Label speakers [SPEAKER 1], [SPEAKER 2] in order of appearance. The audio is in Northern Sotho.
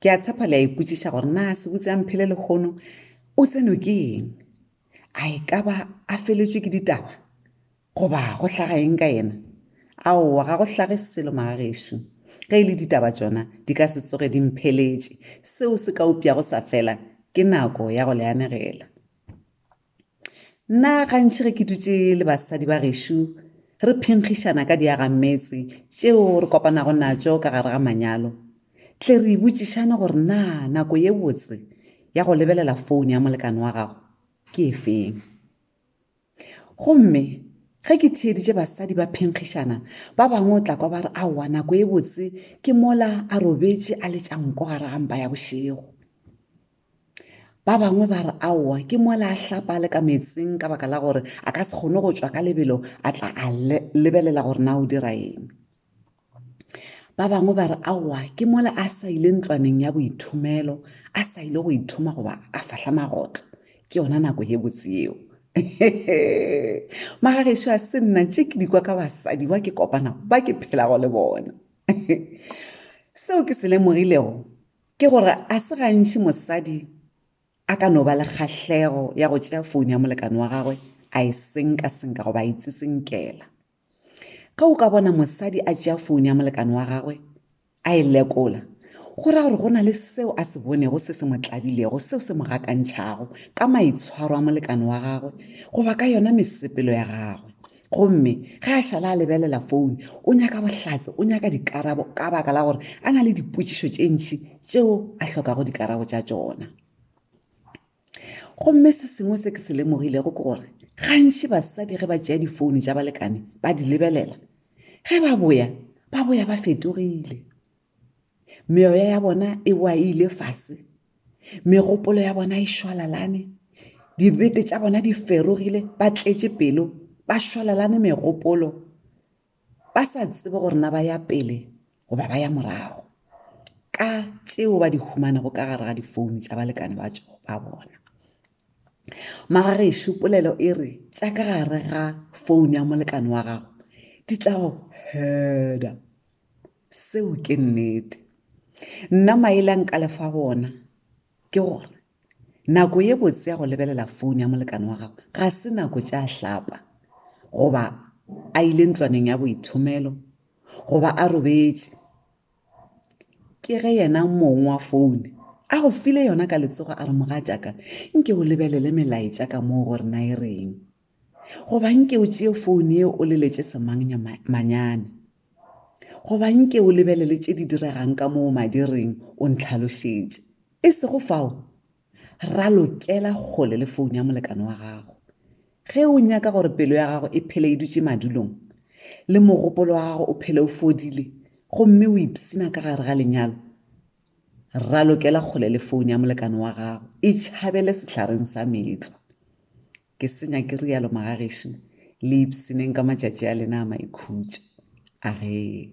[SPEAKER 1] Ke a tshepa le a ipotšiša gore na sebutse a mphele lekgono o tsenwe ke eng a e ka ba a feletswe ke ditaba goba go hlaga eng ka yena aowa ga go hlage selo magagešo ge e le ditaba tsona di ka se tsoge di mpheletše seo se ka upša go sa fela ke nako ya go le anegela Nna gantši ge ke dutše le basadi ba gešo re phenkgišana ka diagammetse tšeo re kopanago natšo ka gare ga manyalo tle re ibotšišane gore na nako ye botse ya go lebelela foune ya molekane wa gago ke e feng gomme ge ke theeditše basadi ba phenkgišana ba bangwe o tla kwa ba re aowa nako ye botse ke mola a robetše a letša nko gare ga mpa ya bošego Ba bangwe ba re aowa ke mola a hlapa le ka meetseng ka baka la gore a ka se kgone go tšwa ka lebelo a tla a lebelela gore na o dira eng. Ba bangwe ba re aowa ke mola a sa ile ntlwaneng ya boithomelo a sa ile go ithoma goba a fahla magotlo ke yona nako ye botse yeo. Magagešu a se nna tše ke dikwa ka basadi ba ke kopana ba ke phelago le bona. Seo ke se lemogilego Ke gore ga se gantši mosadi a ka no ba le kgahlego ya go tšea founo ya molekane wa gagwe a e senka-senka goba a e tsitsinkela. Ge o ka bona mosadi a tšea founo ya molekane wa gagwe a e lekola, go ra gore go na le seo a se bonego se se mo tlabilego, seo se mo gakantšhago ka maitshwaro a molekane wa gagwe goba ka yona mesepelo ya gagwe. gomme ge a šala a lebelela foune o nyaka bohlatse o nyaka dikarabo ka baka la gore a na le dipotšišo tše ntši tšeo a hlokago dikarabo tša tšona gomme se sengwe se ke se lemogilego ke gore gantši basadi ge ba tšea difoune tša balekane ba di lebelela ge ba boya ba boya ba fetogile meoya ya bona e wa e ile fase megopolo ya bona e šwalalane dibete tša bona di ferogile ba tletše pelo ba šwalalane megopolo ba sa tsebe gore na ba ya pele goba ba ya morago ka tšeo ba di humanego ka gare ga difounu tša balekane ba tšo ba bona magagešo polelo e re tša ka gare ga founu ya molekane wa gago di tla go heda seo ke nnete nna maele a nka lefa gona ke gore nako ye botse ya go lebelela fone ya molekane wa gago ga se nako tša hlapa goba a ile ntlwaneng ya boithomelo goba a robetše ke ge yena mong wa fone a go file yona ka letsogo a re moga jaaka nke o lebelele melaetša ka moo gore na e reng goba nke o tšee foune ye o leletše semangnya manyane goba nke o lebelele tše di diregang ka moo madiring o ntlhalošetše e sego fao ralokela kgole le foune ya molekane wa gago ge o nyaka gore pelo ya gago e phele e dutše madulong le mogopolo wa gago o phele o fodile gomme o ipsina ka gare ga lenyalo ralokela kgole le foune ya molekane wa gago e tšhabele sehlaren sa meetlwa Ke se nyake rialo magagešo, le ipshineng ka matšatši a lena a maikhutšo. Aree.